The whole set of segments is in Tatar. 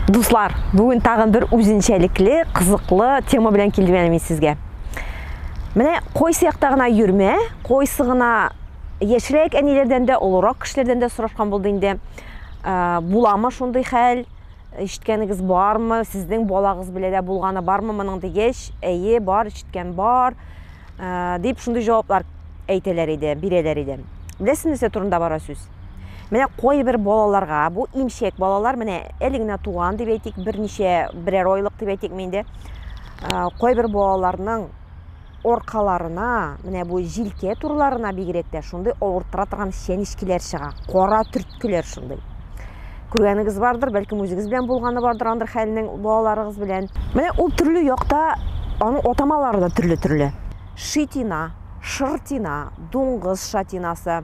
Дуслар, бүген тагын бер үзенчәлекле, кызыклы тема белән килдем әле мин сезгә. Менә койсы якта гына йөрмә, койсы гына яшьрәк әниләрдән дә, олырак кешеләрдән дә сорашкан булды инде. Ә, буламы шундый хәл? Ишеткәнегез бармы? Сезнең балагыз белән дә булганы бармы моның дигәч, әйе, бар, ишеткән бар. Ә, дип шундый җаваплар әйтәләр иде, бирәләр иде. Беләсезме, нәрсә турында бара сүз? Менә кайбер балаларга, бу имчәк балалар, менә әле генә туган дип әйтик, берничә берәр айлык дип әйтик инде. Кайбер балаларның оркаларына, менә бу җилкә турларына бигрәк тә шундый авырттыра торган чәнечкеләр чыга, кара төрткеләр шундый. Күргәнегез бардыр, бәлкем үзегез белән булганы бардыр андыр хәлнең балаларыгыз белән. Менә ул төрле якта аның атамалары да төрле-төрле. Шитина, шыртина, дуңгыз шатинасы,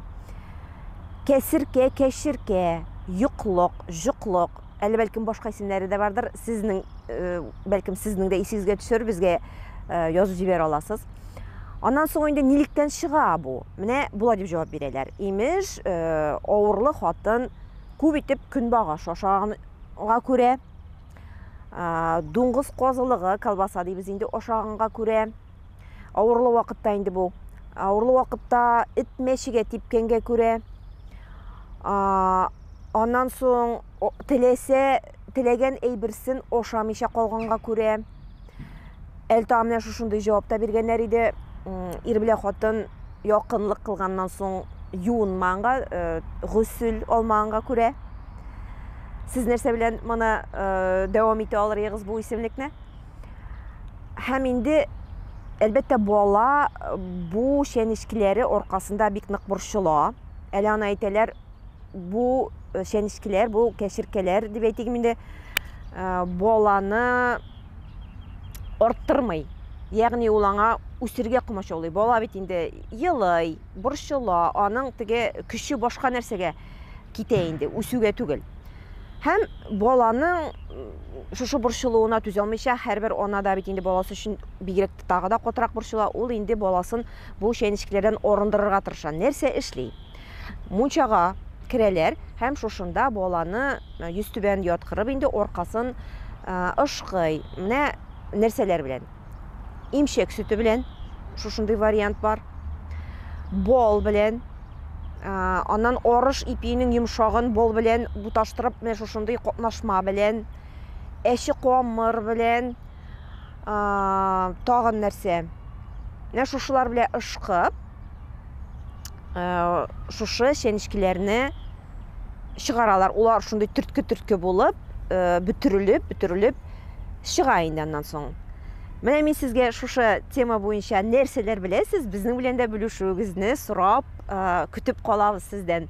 Кәсеркә, кәчеркә, йоклык, җоклык, әле бәлкем башка исемнәре дә бардыр. Сезнең, бәлкем сезнең дә исегезгә төшер, безгә язып җибәрә аласыз. Аннан соң инде нилектән чыга бу? Менә болай дип җавап бирәләр. Имеш, авырлы хатын күп итеп көнбагыш ашаганга күрә, дуңгыз казылыгы, колбаса дибез инде, ашаганга күрә, Авырлы вакытта инде бу. Авырлы вакытта эт мәчегә типкәнгә күрә, аннан соң теләсә, теләгән әйберсен ашамыйча калганга күрә, әлтага менә шушындый җавапта биргәннәр иде, ир белән хатын якынлык кылганнан соң юынманга, э, гөсел алманга күрә. Сез нәрсә белән моны э, дәвам итә алырыгыз бу исемлекне? Һәм инде, әлбәттә, бала бу чәнечкеләре аркасында бик нык борчыла. Әле аны әйтәләр, бу э, чәнечкеләр, бу кәшеркәләр дип әйтик инде, э, баланы арттырмый. Ягъни ул аңа үсергә комачаулый. Бала бит инде елый, борчыла, аның теге көче башка нәрсәгә. китә инде, үсүгә түгел. Һәм баланың шушы борчылуына түзәлмичә, һәрбер ана да бит инде баласы өчен бигрәк тагы да катырак борчыла. Ул инде баласын бу чәнечкеләрдән арындырырга тырыша. Нәрсә эшли? Мунчага керәләр һәм шушында баланы йөзтүбән яткырып инде аркасын ышкый. Менә нәрсәләр белән? имчәк сөте белән шушындый вариант бар бал белән аннан арыш ипиенең йомшагын бал белән буташтырып менә шушындый катнашма белән әче камыр белән тагын нәрсә менә шушылар белән ышкып ә, шушы чәнечкеләрне чыгаралар. Улар шундый төртке-төртке булып, ә, бөтерелеп, бөтерелеп чыга инде аннан соң. Менә мин сезгә шушы тема буенча нәрсәләр беләсез, безнең белән дә бүлешүегезне сорап, ә, көтеп калабыз сездән.